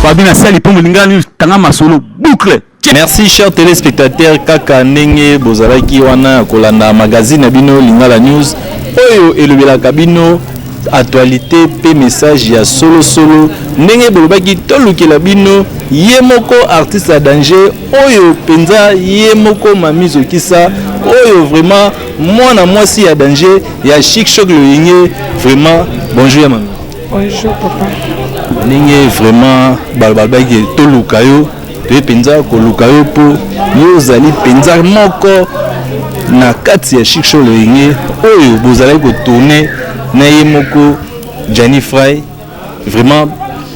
Fabi na sali po molinga ni tanga masolo boucle. Merci chers téléspectateurs kaka ndenge bozalaki wana kolanda magazine na bino Lingala News oyo elobelaka bino actualité pe message ya solo solo ndenge bolobaki tolukela bino ye moko artiste ya danger oyo mpenza ye moko mami zokisa oyo vraiment mwana mwasi ya danger ya chic choc loyenge vraiment bonjour ya mami Bonjour papa. Ndenge vraiment balobaki toluka yo toye mpenza koluka yo mpo yo ozali mpenza moko na kati ya chic show loyenge oyo bozalaki kotourne na ye moko Gianni Fry vraiment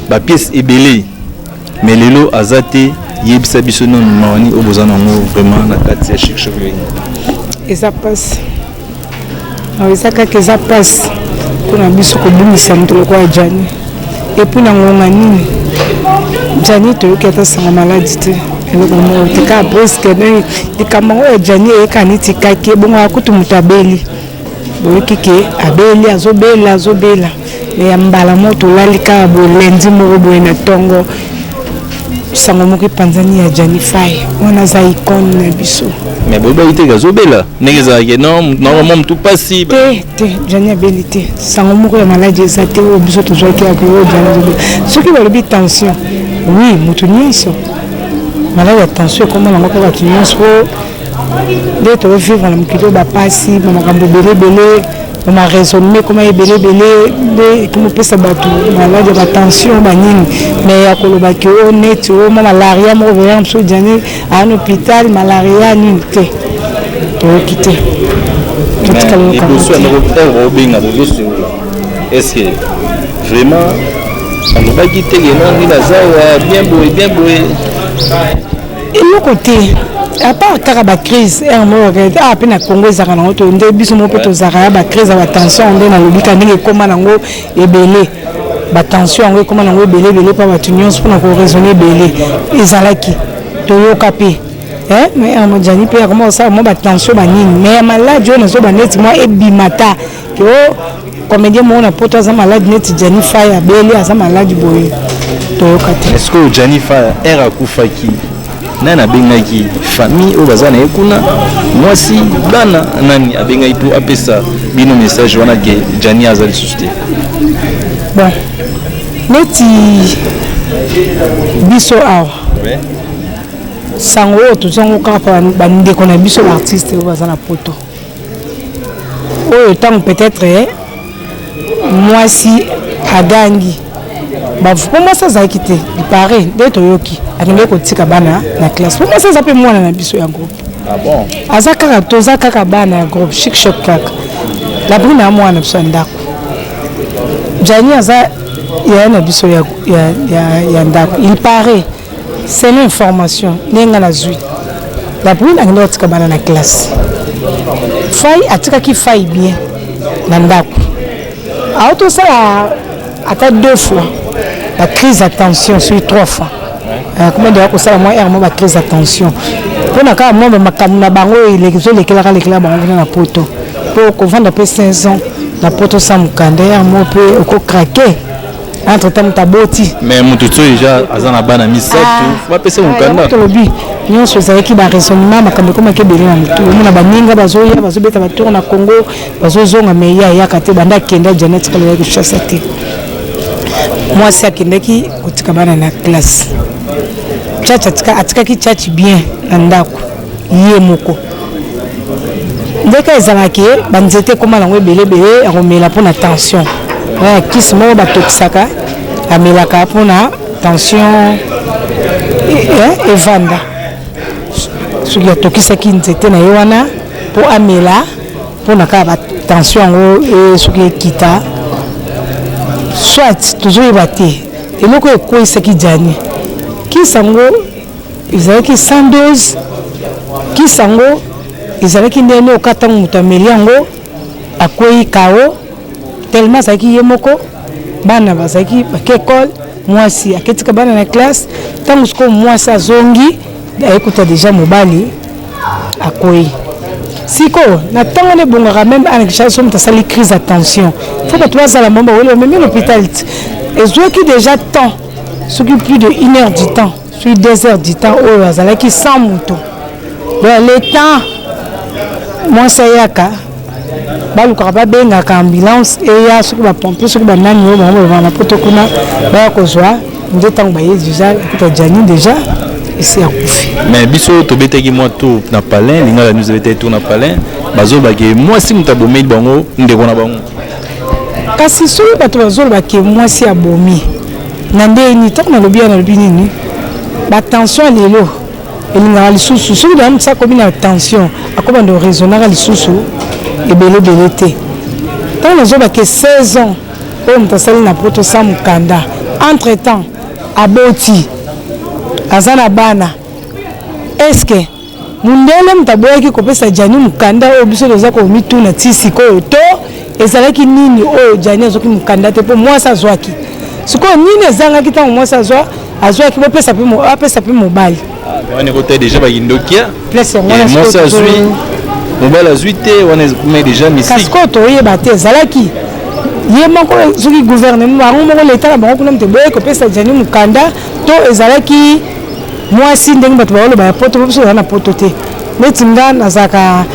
bapiece ebele mais lelo aza te yebisa biso nano mawani oyo boza nango vraiment na kati ya chic show loyenge eza mpasi Awa eza kaka eza pasi mpo na biso kobungisa moto lokola Djani epuis na ngonga nini Djani toyoki ata sango maladi te eloko moko te kaka preske likambo yango ya Djani eyeka neti kaki ebongo akutu moto abeli boyoki ke abeli azobela azobela Mais ya mbala moko tolali kaka boye lundi moko boye na tongo sango moko epanzani ya Gianni Faye wana aza icone na biso mais boyebi te azobela ndenge ezalaki non normalement mutu pasi te te Gianni abeli te sango moko ya maladi eza te oyo biso tozwaki ya koyo Gianni azobela soki balobi tension oui mutu nyonso maladi ya tension ekoma nango mpe bato nyonso nde tozovivre na mokili oyo bapasi na makambo ebele ebele na raisonnement ekoma ebele ebele nde ekomopesa bato maladi ya batension banini me ya koloba ke o neti o mwa malaria moko veyaka mosusu ejani aa na hôpital malaria nini te toyoki te obenga tozosunga estce vraiment alobaki te ke nongi naza wa bien boye bien boye eloko te apart kaka bacrise r moko kaka awa mpe na congo ezalaka nango to nde biso moko mpe tozalaka ya bacrise ya batension nde nalobi ka ndenge ekóma nango ebele batension yango ekóma nango ebele ebele mpo bato nyonso mpona koraisonne ebele ezalaki toyoka mpe mais amojani mpe akoma kosala mwa batension banini mais ya maladi oyo nazoba neti mwa ebima ta Yo comedien moko na poto aza malade neti Gianni Fire abeli aza malade boye toyoka te. Est-ce que Gianni Fire era akufaki nani abengaki famille oyo baza na ye kuna mwasi bana nani abengaki mpo apesa bino message wana ke Gianni aza lisusu te? Bon neti biso awa ouais. sango oyo tozango kaka bandeko na biso baartiste oyo baza na poto oyo ntango peut-être eh, mwasi agangi bavu mpo mwasi azalaki te lipare nde toyoki akendeki kotika bana na classe mpo mwasi aza mpe mwana na biso ya groupe ah aza kaka toza kaka bana ya groupe chic choc kaka labrine ya mwana na biso ya ndako jani aza yaya na biso ya, ya, ya, ya ndako lipare Selon information ndenge nga nazwi, la brune akendaki kotika bana na classe, Fayi atikaki Fayi bien na ndako, auti osala ata deux fois ba crise ya tension soki trois fois euh, koma deya kosala mwa aire mwa ba crise ya tension mpo na kaka mwa bamakambo na bango ezolekelaka lekela bango kuna na poto mpo kovanda mpe 5 ans na poto sa mokanda aire moko mpe okokrake entre temps moto aboti mais moto tio deja aza na bana misato bapesa mokanda tolobi nyonso ezalaki baraisonnement makambo ekomaki ebele na motu omona baninga bazoya bazobeta batour na congo bazozonga mai ya eyaka te banda akenda janet kala ya koshasa te mwasi akendaki kotika bana na classe chachi atikaki chachi bien na ndako ye moko ndeke ezalaka ke banzete ekoma nango ebelebele ya komela mpona tension ya kisi moko batokisaka amelaka mpona tension eh, evanda soki atokisaki nzete na ye wana mpo amela mpona kaka batension yango eh, soki ekita soit tozoyeba te eloko ekweisaki jani kisi yango Ezalaki 100 dose kisi yango ezalaki ndenge nini oka ntango moto ameli yango akwei kao telema azalaki ye moko bana bazalaki bake ekole mwasi aketika bana na classe ntango sikoyo mwasi azongi ayekuta deja mobali akwei sikoyo na ntango wana ebongaka meme ana kishasa so moto asali crise ya tension fo bato bazala mama baweli bamemi lopital ezwaki deja temps soki plus de une heure du temps soki deux heures du temps oyo azalaki sans moto donc le temps mwasi ayaka balukaka babengaka ambulance eya soki bapompe soki banani oyo bango balobaka na poto kuna baya kozwa nde ntango baye deja ekuta jani deja esi akufi mais biso tobetaki mwa tour na palin lingala news ebetaki tour na palin bazobaki mwasi moto abomeli bango ndeko na bango Kasi soki bato bazoloba ke mwasi abomi na ndenge nini, ntango nalobi ya nalobi nini, ba tension ya lelo elingaka lisusu soki na motisa akomi na tension akobanda oraisonnaka lisusu ebele ebele te. Ntango nazoloba ke 16 ans oyo moto asali na poto sans mokanda, entre temps aboti aza na bana, est ce que Mundele moto aboyaki kopesa Djani mokanda oyo biso toza komituna ti sikoyo to ezalaki nini oyo Djani azwaki mokanda te mpo mwasi azwaki sikoyo nini ezangaki ntango mwasi azwa azwaki bopesa mpe apesa mpe mobali ah, wana ekota deja bakindokia mwasi azwi mobali azwi te wana ekoma deja misiki kasi koyo toyeba te ezalaki ye moko soki gouvernement bango moko leta na bango kuna moto eboye kopesa Djani mokanda to ezalaki mwasi ndenge bato baoloba ya poto po biso toza na poto te neti nga nazalaka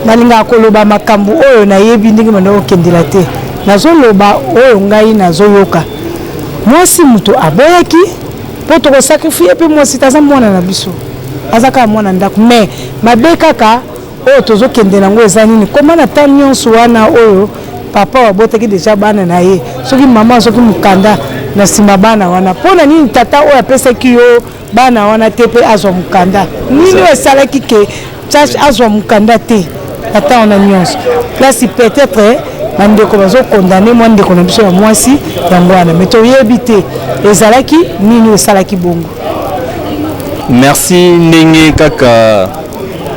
nalingaka koloba makambo oyo nayebi ndenge banda kokendela te nazoloba oyo ngai nazoyoka mwasi moto aboyaki mpo tokosakrifie mpe mwasi te aza mwana na biso aza kaka mwana ndako mais mabe kaka Oyo tozo kende na ngo eza nini comment na temps nionso wana oyo papa abotaki dejà bana na ye soki maman azoki mukanda na sima bana wana pona nini tata oyo apesaki yo bana wana te pe azwa mukanda nini oyo esalaki ke chache azwa mukanda te na temps wana nionso place peut être bandeko bazokondane mwa ndeko na biso ya mwasi yango wana me toyebi te ezalaki nini esalaki bongo merci ndenge kaka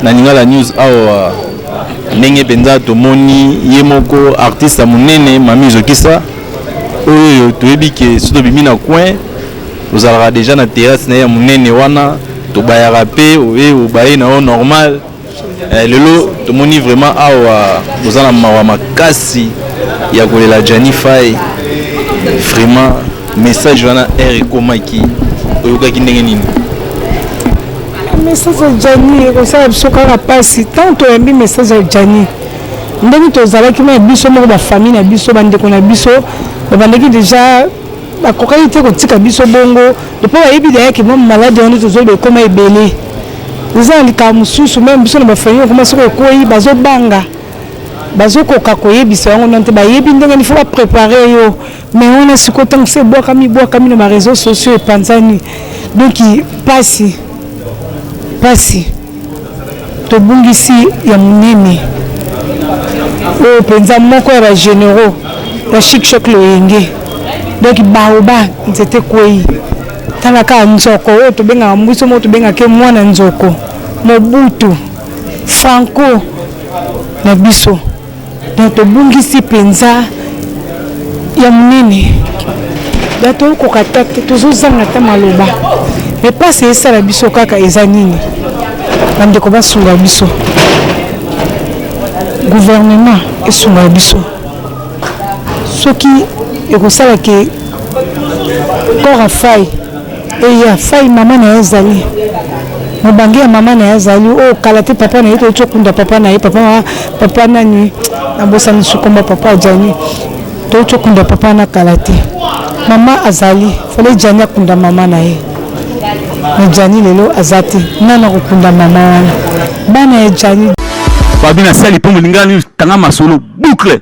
Na Lingala News awa ndenge mpenza tomoni ye moko artiste ya monene Mami Zokisa oyo toyebi ke soki tobimi na coin ozalaka deja na terrasse na ye ya monene wana tobayaka mpe oye obaye na yo normal eh, lelo tomoni vraiment awa oza na mawa makasi ya kolela Gianni Faye vraiment message wana heure ekomaki oyokaki ndenge nini message ya jani ekosala biso kaka mpasi ntango toyambi message ya jani ndenge tozalaki na biso moko bafamille na biso bandeko na biso babandaki deja bakokaki te kotika biso bongo epo bayebi dayaki mwa maladi wana tozoloba ekoma ebele eza na likambo mosusu meme biso na bafamille ekoma soki ekwei bazobanga bazokoka koyebisa yango nante bayebi ndenge nifo baprepare yo me wana sikoyo ntango se ebwakami ebwakami na bareseau sociaux epanzani donc mpasi mpasi tobungisi ya monene oyo mpenza moko ya bagénéraux ya chikshok loyenge donc baoba nzete kwei tala kaka nzoko oyo tobengaka mbuso moko tobengaka mwana nzoko mobutu franco na biso Donc tobungisi penza ya munene. Donc tokoka ata te tozozanga ata maloba. Mais pasi esala biso kaka eza nini? Bandeko basunga biso. Gouvernement esunga biso. Soki ekosala que corps afaille Eya fay mama na ye azali mobange ya mama na ye azali oyo oh, kala te papa na ye toyeti okunda papa na ye papa papa nani nabosani sukomba papa ajani toyeti okunda papa na kala te mama azali fale jani akunda mama na ye na jani lelo aza te nani akokunda mama wana bana ya jani babi na sali mpo molingani tanga masolo boucle